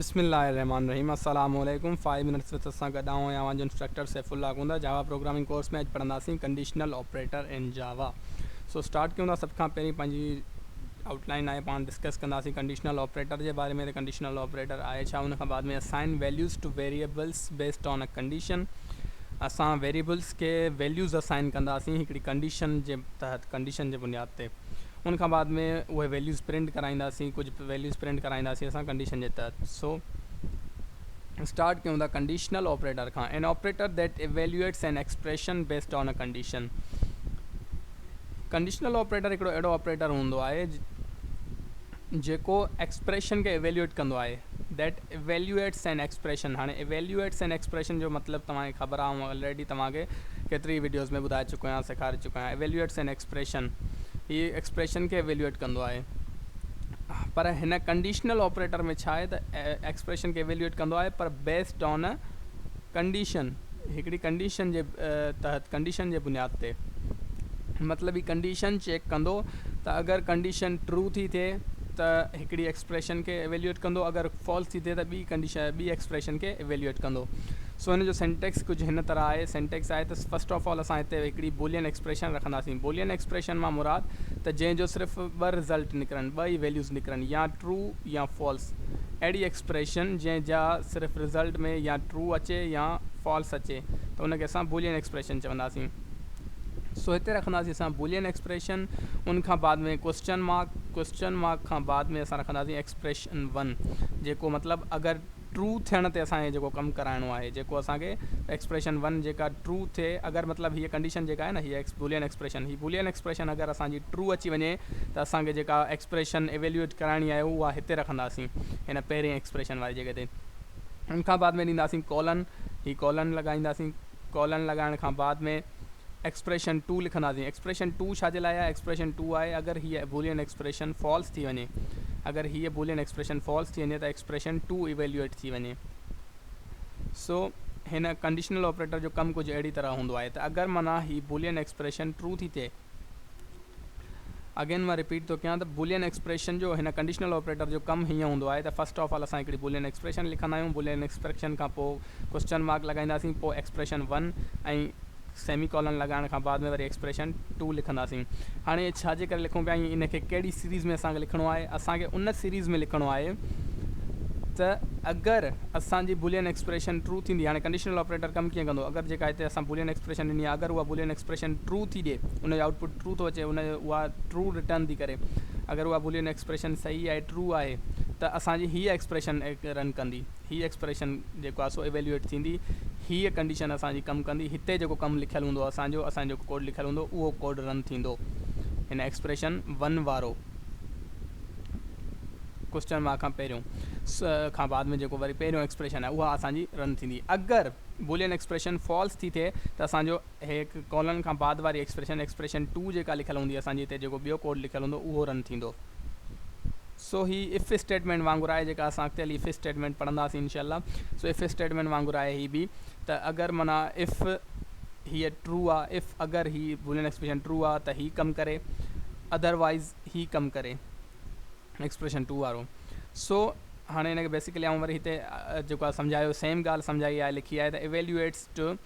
بسم الله الرحمٰن الرحيم السلام عليڪم فائيو منٽس وٿ سان گڏ آئون اوهان جو انسٽرڪٽر سيف الله گوندا جاوا پروگرامنگ ڪورس ۾ اڄ پڙهنداسين conditional operator in Java so start ڪيون ٿا سڀ کان پهرين پنهنجي آئوٽ لائين آهي پاڻ ڊسڪس ڪنداسين ڪنڊيشنل آپريٽر جي باري ۾ ته ڪنڊيشنل آپريٽر آهي ڇا ان کان بعد ۾ assign values to variables based on a condition اسان ويريبلز کي ويليوز اسائن ڪنداسين هڪڙي ڪنڊيشن جي تحت ڪنڊيشن جي بنياد تي ان کان بعد ۾ اهي ويليوز پرنٽ ڪرائينداسين ڪجهه ويليوز پرنٽ ڪرائينداسين اسان ڪنڊيشن جي تحت سو اسٽارٽ ڪيون ٿا ڪنڊيشنل آپريٽر کان an operator that evaluates an expression based on a condition conditional operator هڪڙو اهڙو آپريٽر هوندو آهي جيڪو ايڪسپريشن کي ايويليويٽ ڪندو آهي ديٽ ايويليويٽس اين ايڪسپريشن هاڻي ايويليويٽس اين ايڪسپريشن جو مطلب توهان کي خبر آهي آئون آلريڊي توهان کي ڪيتري ويڊيوز ۾ ٻڌائي چڪو آهيان سيکاري چڪو آهيان ايويليويٽس اين ايڪسپريشن هي ايڪسپريشن کي ايويلوئيٽ ڪندو آهي پر هن ڪنڊيشنل آپريٽر ۾ ڇا آهي ته ايڪسپريشن کي ايويلوئيٽ ڪندو آهي پر بيسڊ آن ا ڪنڊيشن هڪڙي ڪنڊيشن جي تحت ڪنڊيشن جي بنياد تي مطلب هي ڪنڊيشن چيڪ ڪندو ته اگر ڪنڊيشن ٽرو ٿي ٿئي ته هڪڙي ايڪسپريشن کي ايويليوئيٽ ڪندو اگر فالس ٿي ٿئي ته ٻي ڪنڊيشن ٻي ايڪسپريشن کي ايويليوئيٽ ڪندو سو هن جو سينٽيڪس ڪجهه هن طرح آهي سينٽيڪس آهي ته فرسٽ آف آل اسان هتي هڪڙي بولين ايڪسپريشن رکنداسين بولين ايڪسپريشن مان مراد ته جنهن جو صرف ٻه رزلٽ نڪرن ٻه ئي ويليوز نڪرن يا ٽرو يا فالس اهڙي ايڪسپريشن جنهن جا صرف رزلٽ ۾ يا ٽرو اچي يا فالس اچي ته ان کي اسان بولين ايڪسپريشن چونداسين سو هتي رکنداسين اسان بولين ايڪسپريشن ان کان بعد ۾ ڪوشچن مارڪ ڪوشچن مارڪ کان بعد ۾ اسان رکنداسين ايڪسپريشن ون جيڪو مطلب اگر ٽرو ٿيڻ تي اسان کي جيڪو ڪم ڪرائڻو آهي جيڪو اسان کي ايڪسپريشن ون جيڪا ٽرو ٿئي اگر مطلب هيء ڪنڊيشن جيڪا آهي نه هيء بولين ايڪسپريشن هي بولين ايڪسپريشن اگر اسان جي ٽرو اچي وڃي ته اسان کي جيڪا ايڪسپريشن ايويلويٽ ڪرائڻي آهي اها هتي رکنداسين هن پهرين ايڪسپريشن واري جڳهه تي ان کان بعد ۾ ڏينداسين ڪولن هي ڪولن لڳائينداسين ڪالن لڳائڻ کان بعد ۾ ايڪسپريشن ٽو لکنداسين. ايڪسپريشن ٽو ڇا جي لاء آهي؟ ايڪسپريشن ٽو آهي اگر هيء بولين ايڪسپريشن فالس ٿي وڃي. اگر هيء بولين ايڪسپريشن فالس ٿي وڃي ته ايڪسپريشن ٽو ايويليوئيٽ ٿي وڃي. سو هن ڪنڊيشنل آپريٽر جو ڪم ڪجهه اهڙي طرح هوندو آهي ته اگر معنيٰ هي بولين ايڪسپريشن ٽرو ٿي ٿئي، اگين مان رپيٽ ٿو ڪيان ته بولين ايڪسپريشن جو هن ڪنڊيشنل آپريٽر جو ڪم هيئن هوندو آهي ته فرسٽ آف آل اسان هڪڙي بولين ايڪسپريشن لکندا آهيون بولين ايڪسپريشن کان پوء ڪوئسچن مارڪ لڳائينداسين پوء ايڪسپريشن ون ۽ سيمي ڪالن لڳائڻ کان بعد ۾ وري ايڪسپريشن ٽو لکنداسين هاڻي ڇا جي ڪري لکون پيا ۽ ان کي ڪهڙي سيريز ۾ اسان کي لکڻو آهي اسان کي ان سيريز ۾ لکڻو آهي ته اگر اسان جي بولين ايڪسپريشن ٽرو ٿيندي هاڻي ڪنڊيشنل آپريٽر ڪم ڪيئن ڪندو اگر جيڪا هتي اسان بولين ايڪسپريشن ڏني آهي اگر اها بولين ايڪسپريشن ٽرو ٿي ڏئي ان جو آئوٽ پٽ ٽرو ٿو اچي ان جو اها ٽرو رٽرن ٿي ڪري اگر اها بولين ايڪسپريشن صحيح آهي ٽرو آهي ته اسان جي هيء ايڪسپريشن رن ڪندي هيء ايڪسپريشن جيڪو آهي سو ايويلوئيٽ ٿيندي هيء ڪنڊيشن اسان جي ڪم ڪندي هتي جيڪو ڪم لکيل هوندو اسان جو اسان جو ڪوڊ لکيل هوندو اهو ڪوڊ رن ٿيندو هن ايڪسپريشن ون وارو ڪوشچن مارڪ کان پهريون کان بعد ۾ جيڪو وري پهريون ايڪسپريشن آهي اها اسان جي رن ٿيندي اگر بولين ايڪسپريشن فالس ٿي ٿئي ته اسان جو هيڪ ڪولن کان بعد واري ايڪسپريشن، Expression، ٽو جيڪا لکيل هوندي اسان جي هتي جيڪو ٻيو ڪوڊ لکيل هوندو اهو رن ٿيندو. سو هي اف اسٽيٽمينٽ وانگر آهي جيڪا اسان اڳتي هلي اف اسٽيٽمينٽ پڙهنداسين انشاء الله. سو اف اسٽيٽمينٽ وانگر آهي هي به ته اگر معنيٰ اف هيء ٽرو آ اف اگر هي بولين ايڪسپريشن ٽرو آ ته هي ڪم ڪري اڌر وائيز هي ڪم ڪري ايڪسپريشن ٽو وارو. سو هاڻي هن کي بيسڪلي آئون وري هتي جيڪو آ سمجهايو سيم ڳالهه سمجهائي آهي لکي آهي ته ايويليوئيٽس ٽو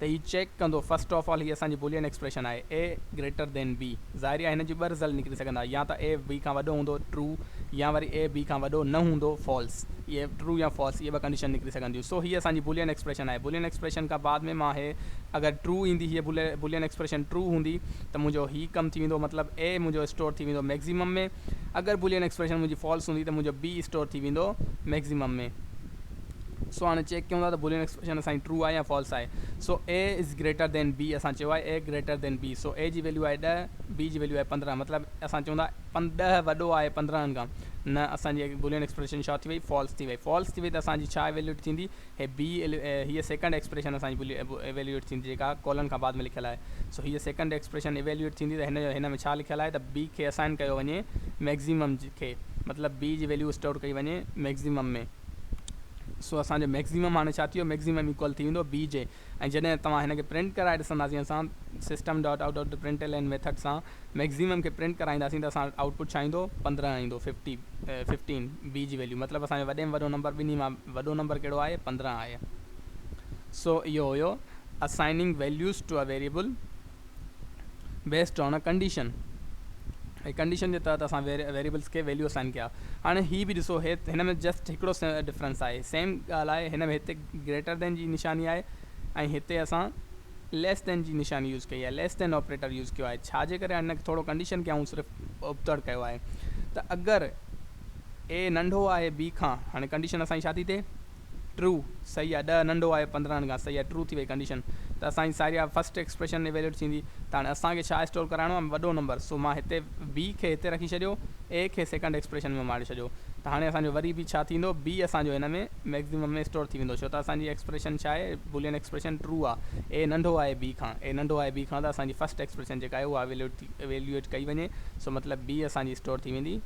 ته هي چيڪ ڪندو فرسٽ آف آل هي اسان جي بولين ايڪسپريشن آهي A گريٽر دين B ظاهري آهي هن جي ٻه رزلٽ نڪري سگهندا يا ته A B کان وڏو هوندو True يا وري A B کان وڏو نه هوندو False اهي True يا False اهي ٻه ڪنڊيشن نڪري سگهنديون سو هي اسان جي بولين ايڪسپريشن آهي بولين ايڪسپريشن کان بعد ۾ مان هي اگر True ايندي هي بولين ايڪسپريشن True هوندي ته منهنجو هي ڪم ٿي ويندو مطلب A منهنجو اسٽور ٿي ويندو ميڪزيمم ۾ اگر بولين ايڪسپريشن منهنجي False هوندي ته منهنجو B اسٽور ٿي ويندو ميڪزيمم ۾. سو هاڻي چيڪ ڪيون ٿا ته بولين ايڪسپريشن اسان جي ٽرو آهي يا فالس آهي. سو اي از گريٽر ڌين بي اسان چيو آهي اي گريٽر ڌين بي سو اي جي ويليو آهي ڏهه بي جي ويليو آهي پندرهن مطلب اسان چون ٿا ڏهه وڏو آهي پندرهن کان نه اسان جي بولين ايڪسپريشن ڇا ٿي وئي فالس ٿي وئي فالس ٿي وئي ته اسان جي ڇا ايويليوٽ ٿيندي هي بي هيء سيڪنڊ ايڪسپريشن اسان جي ايويليوٽ ٿيندي جيڪا ڪولن کان بعد ۾ لکيل آهي سو هيء سيڪنڊ ايڪسپريشن ايويليوٽ ٿيندي ته هن جو هن ۾ ڇا لکيل آهي ته بي کي اسائن ڪيو وڃي مئڪسيمم کي مطلب بي جي ويليو اسٽور ڪئي وڃي مئڪسيمم ۾ سو اسان جو مئڪسيمم هاڻي ڇا ٿي ويو مئڪسيمم ايڪوئل ٿي ويندو بي جي ۽ جڏهن توهان هن کي پرنٽ ڪرائي ڏسنداسين اسان system dot out dot print L N method سان مئڪسيمم کي پرنٽ ڪرائينداسين ته اسان وٽ آئوٽ پٽ ڇا ايندو پندرهن ايندو ففٽي ففٽين بي جي ويليو مطلب اسان جو وڏي ۾ وڏو نمبر ٻنهي مان وڏو نمبر ڪهڙو آهي پندرهن آهي سو اهو هيو assigning values to a variable based on a condition هي ڪنڊيشن جي تحت اسان ويريبلز کي ويليو اسائن ڪيا هاڻي هي به ڏسو هن ۾ جسٽ هڪڙو ڊفرنس آهي سيم ڳالهه آهي هن ۾ هتي گريٽر دين جي نشاني آهي ۽ هتي اسان ليس دين جي نشاني يوز ڪئي آهي ليس دين آپريٽر يوز ڪيو آهي ڇا جي ڪري هن کي ٿورو ڪنڊيشن کي آئون صرف ابتڙ ڪيو آهي ته اگر اي ننڍو آهي بي کان هاڻي ڪنڊيشن اسان جي ڇا ٿي ٿئي ٽرو، صحيح آ ڏهه ننڍو آهي پندرهن کان صحيح آ ٽرو ٿي وئي ڪنڊيشن ته اسان جي ساريا فرسٽ ايڪسپريشن ايويليوٽ ٿيندي ته هاڻي اسان کي ڇا اسٽور ڪرائڻو آهي وڏو نمبر سو مان هتي B کي هتي رکي ڇڏيو A کي سيڪنڊ ايڪسپريشن ۾ ماڙي ڇڏيو ته هاڻي اسان جو وري به ڇا ٿيندو B اسان جو هن ۾ مئڪزمم ۾ اسٽور ٿي ويندو ڇو ته اسان جي ايڪسپريشن ڇا آهي بولين ايڪسپريشن ٽرو آ A ننڍو آهي B کان A ننڍو آهي B کان ته اسان جي فرسٽ ايڪسپريشن جيڪا آهي اها ايويليوٽ ڪئي وڃي سو مطلب B اسان جي اسٽور ٿي ويندي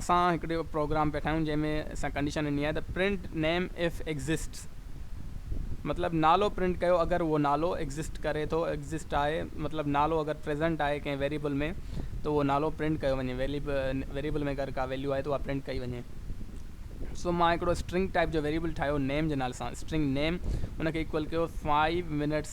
اسان هڪڙي پروگرام پيا ٺاهيون جنهن ۾ اسان ڪنڊيشن ڏني آهي ته پرنٽ نيم اف ايگزسٽس مطلب نالو پرنٽ ڪيو اگر اهو نالو ايگزسٽ ڪري ٿو ايگزسٽ آهي مطلب نالو اگر پريزنٽ آهي ڪنهن ويريبل ۾ ته اهو نالو پرنٽ ڪيو وڃي ويريبل ۾ اگر ڪا ويليو آهي ته اها پرنٽ ڪئي وڃي سو مان هڪڙو اسٽرنگ ٽائپ جو ويريبل ٺاهيو نيم جي نالي سان اسٽرنگ نيم ان کي ايڪول ڪيو 5 منٽس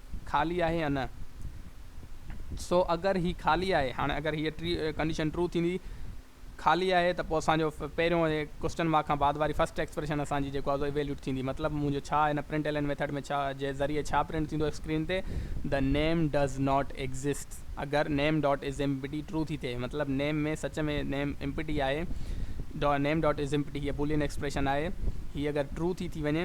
خالي آهي يا نه. سو اگر هي خالي آهي هاڻي اگر هيء ٽري ڪنڊيشن ٽرو ٿيندي خالي آهي ته پوء اسان جو پهريون اهي ڪوسٽن مارڪ کان بعد واري فرسٽ ايڪسپريشن اسان جي جيڪو آهي سو ايويليوٽ ٿيندي مطلب منهنجو ڇا هن پرنٽ ايلين ميٿڊ ۾ ڇا جي ذريعي ڇا پرنٽ ٿيندو اسڪرين تي The name does not exist اگر name dot is empty true ٿي ٿئي مطلب نيم ۾ سچ ۾ نيم ايمپٽي آهي name dot is empty هيء بولين ايڪسپريشن آهي هيء اگر ٽرو ٿي ٿي وڃي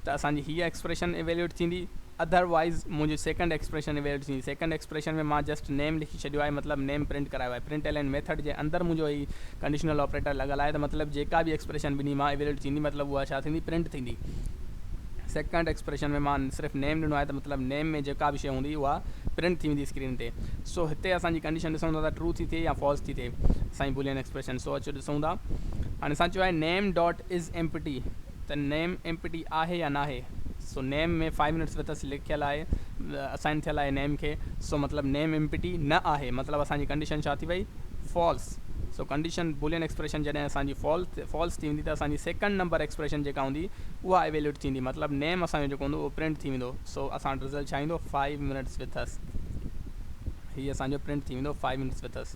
ته اسان جي هيء ايڪسپريشن ايويليوٽ ٿيندي اڌر وائيز منهنجي سيڪنڊ ايڪسپريشن ايويلڊ ٿيندي. سيڪنڊ ايڪسپريشن ۾ مان جسٽ نيم لکي ڇڏيو آهي مطلب نيم پرنٽ ڪرايو آهي. پرنٽ ايلين ميٿڊ جي اندر منهنجو هي ڪنڊيشنل آپريٽر لڳل آهي ته مطلب جيڪا به ايڪسپريشن ٻنهي مان ايويلڊ ٿيندي مطلب اها ڇا ٿيندي پرنٽ ٿيندي. سيڪنڊ ايڪسپريشن ۾ مان صرف نيم ڏنو آهي ته مطلب نيم ۾ جيڪا به شيء هوندي اها پرنٽ ٿي ويندي اسڪرين تي. سو هتي اسان جي ڪنڊيشن ڏسون ٿا ته ٽرو ٿي ٿئي يا فالس ٿي ٿئي اسان جي بولين ايڪسپريشن. سو اچو ڏسون ٿا. هاڻي اسان چيو آهي نيم ڊاٽ از ايمپٽي. ته نيم ايمپٽي آهي يا ناهي سو name ۾ five minutes with us لکيل آهي اسائن ٿيل آهي نيم کي سو مطلب نيم ايمپٽي نه آهي مطلب اسان جي ڪنڊيشن ڇا ٿي وئي فالس سو ڪنڊيشن بولين ايڪسپريشن جڏهن اسان جي فالس ٿي ويندي ته اسان جي سيڪنڊ نمبر ايڪسپريشن جيڪا هوندي اها ايويلوٽ ٿيندي مطلب نيم اسان جو جيڪو هوندو اهو پرنٽ ٿي ويندو سو اسان وٽ رزلٽ ڇا ايندو فائيو منٽس وٿ اس هي اسان جو پرنٽ ٿي ويندو فائيو منٽس وٿ اس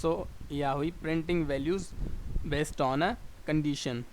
سو اها هئي printing values based on a condition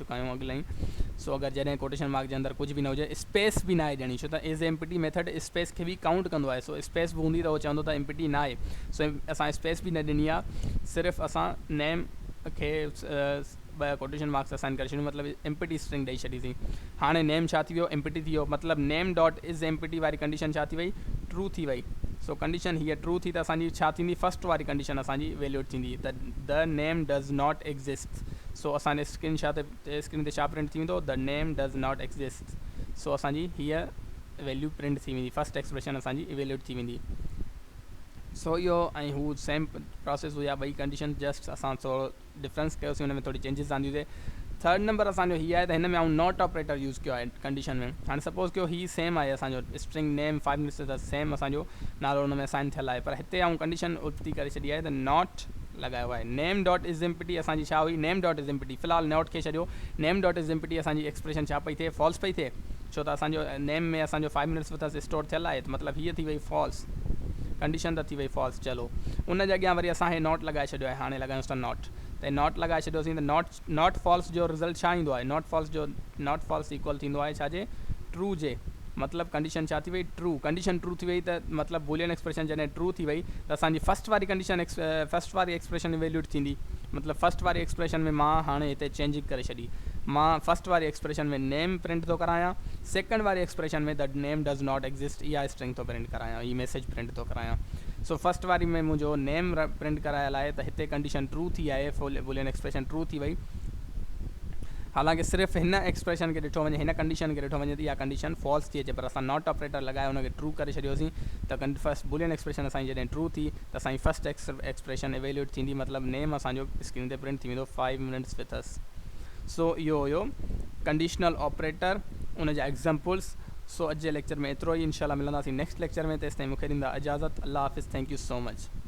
چڪا آهيون اڳ لئي سو اگر جڏهن ڪوٽيشن مارڪ جي اندر ڪجهه به نه هجي اسپيس به ناهي ڏيڻي ڇو ته as a empty method space کي به ڪائونٽ ڪندو آهي سو اسپيس به هوندي ته هو چوندو ته امپٽي ناهي سو اسان اسپيس به نه ڏني آهي صرف اسان نيم کي ٻه ڪوٽيشن مارڪس اسائن ڪري ڇڏيون مطلب امپٽي اسٽرنگ ڏئي ڇڏي سين هاڻي نيم ڇا ٿي ويو امپٽي ٿي ويو مطلب نيم ڊاٽ از امپٽي واري ڪنڊيشن ڇا ٿي وئي ٽرو ٿي وئي سو ڪنڊيشن هيء ٽرو ٿي ته اسان جي ڇا ٿيندي فرسٽ واري ڪنڊيشن اسان جي ويليوڊ ٿيندي ته the name does not exist سو اسان جي اسڪرين شا تي اسڪرين تي شا پرنٽ ٿي ويندو the name does not exist سو اسان جي هيء ويليو پرنٽ ٿي ويندي فرسٽ ايڪسپريشن اسان جي ايويلوٽ ٿي ويندي سو اهو ۽ هو سيم پروسيس هئي ٻئي ڪنڊيشن جسٽ اسان ٿورو ڊفرنس ڪيوسي ان ۾ ٿوري چينجز آنديسي ٿرڊ نمبر اسان جو هي آهي ته هن ۾ آئون ناٽ آپريٽر يوز ڪيو آهي ڪنڊيشن ۾ هاڻي سپوز ڪيو هي سيم آهي اسان جو اسٽرنگ نيم فائيو منٽس ته سيم اسان جو نالو ان ۾ اسائن ٿيل آهي پر هتي آئون ڪنڊيشن الٽي ڪري ڇڏي آهي ته ناٽ لڳايو آهي نيم ڊاٽ از امپٽي اسان جي ڇا هئي نيم ڊاٽ از امپٽي في الحال نوٽ کي ڇڏيو نيم ڊاٽ از امپٽي اسان جي ايڪسپريشن ڇا پئي ٿئي فالس پئي ٿئي ڇو ته اسان جو نيم ۾ اسان جو five minutes with us store ٿيل آهي ته مطلب هيء ٿي وئي فالس ڪنڊيشن ته ٿي وئي فالس چلو ان جي اڳيان وري اسان هي نوٽ لڳائي ڇڏيو آهي هاڻي لڳايونس ٿا نوٽ ته نوٽ لڳائي ڇڏيوسين ته نوٽ ناٽ فالس جو رزلٽ ڇا ايندو آهي؟ ناٽ فالس جو ناٽ فالس ايڪوئل ٿيندو آهي ڇا جي؟ ٽرو جي. مطلب ڪنڊيشن ڇا ٿي وئي؟ ٽرو. ڪنڊيشن ٽرو ٿي وئي ته مطلب بولين ايڪسپريشن جڏهن ٽرو ٿي وئي ته اسان جي فرسٽ واري ڪنڊيشن فرسٽ واري ايڪسپريشن ايويليوٽ ٿيندي. مطلب فرسٽ واري ايڪسپريشن ۾ مان هاڻي هتي چينجنگ ڪري ڇڏي. مان فرسٽ واري ايڪسپريشن ۾ نيم پرنٽ ٿو ڪرايان. سيڪنڊ واري expression ۾ the name does not exist اها اسٽرنگ ٿو پرنٽ ڪرايان. هي ميسيج پرنٽ ٿو ڪرايان. سو فرسٽ واري ۾ منهنجو نيم پرنٽ ڪرايل آهي ته هتي ڪنڊيشن ٽرو ٿي آهي بولين ايڪسپريشن ٽرو ٿي وئي حالانڪه صرف هن ايڪسپريشن کي ڏٺو وڃي هن ڪنڊيشن کي ڏٺو وڃي ته اها ڪنڊيشن فالس ٿي اچي پر اسان ناٽ آپريٽر لڳائي ان کي ٽرو ڪري ڇڏيوسين ته فرسٽ بولين ايڪسپريشن اسان جي جڏهن ٽرو ٿي ته اسان جي فرسٽ ايڪسپريشن ايويلوئيٽ ٿيندي مطلب نيم اسان جو اسڪرين تي پرنٽ ٿي ويندو فائيو منٽس وٿ اس سو اهو هيو ڪنڊيشنل آپريٽر ان جا ايگزامپلس سو اڄ جي ليڪچر ۾ ايترو ئي انشاء الله ملنداسين نيڪسٽ ليڪچر ۾ تيستائين مونکي ڏيندا اجازت الله حافظ ٿينڪ يو سو مچ.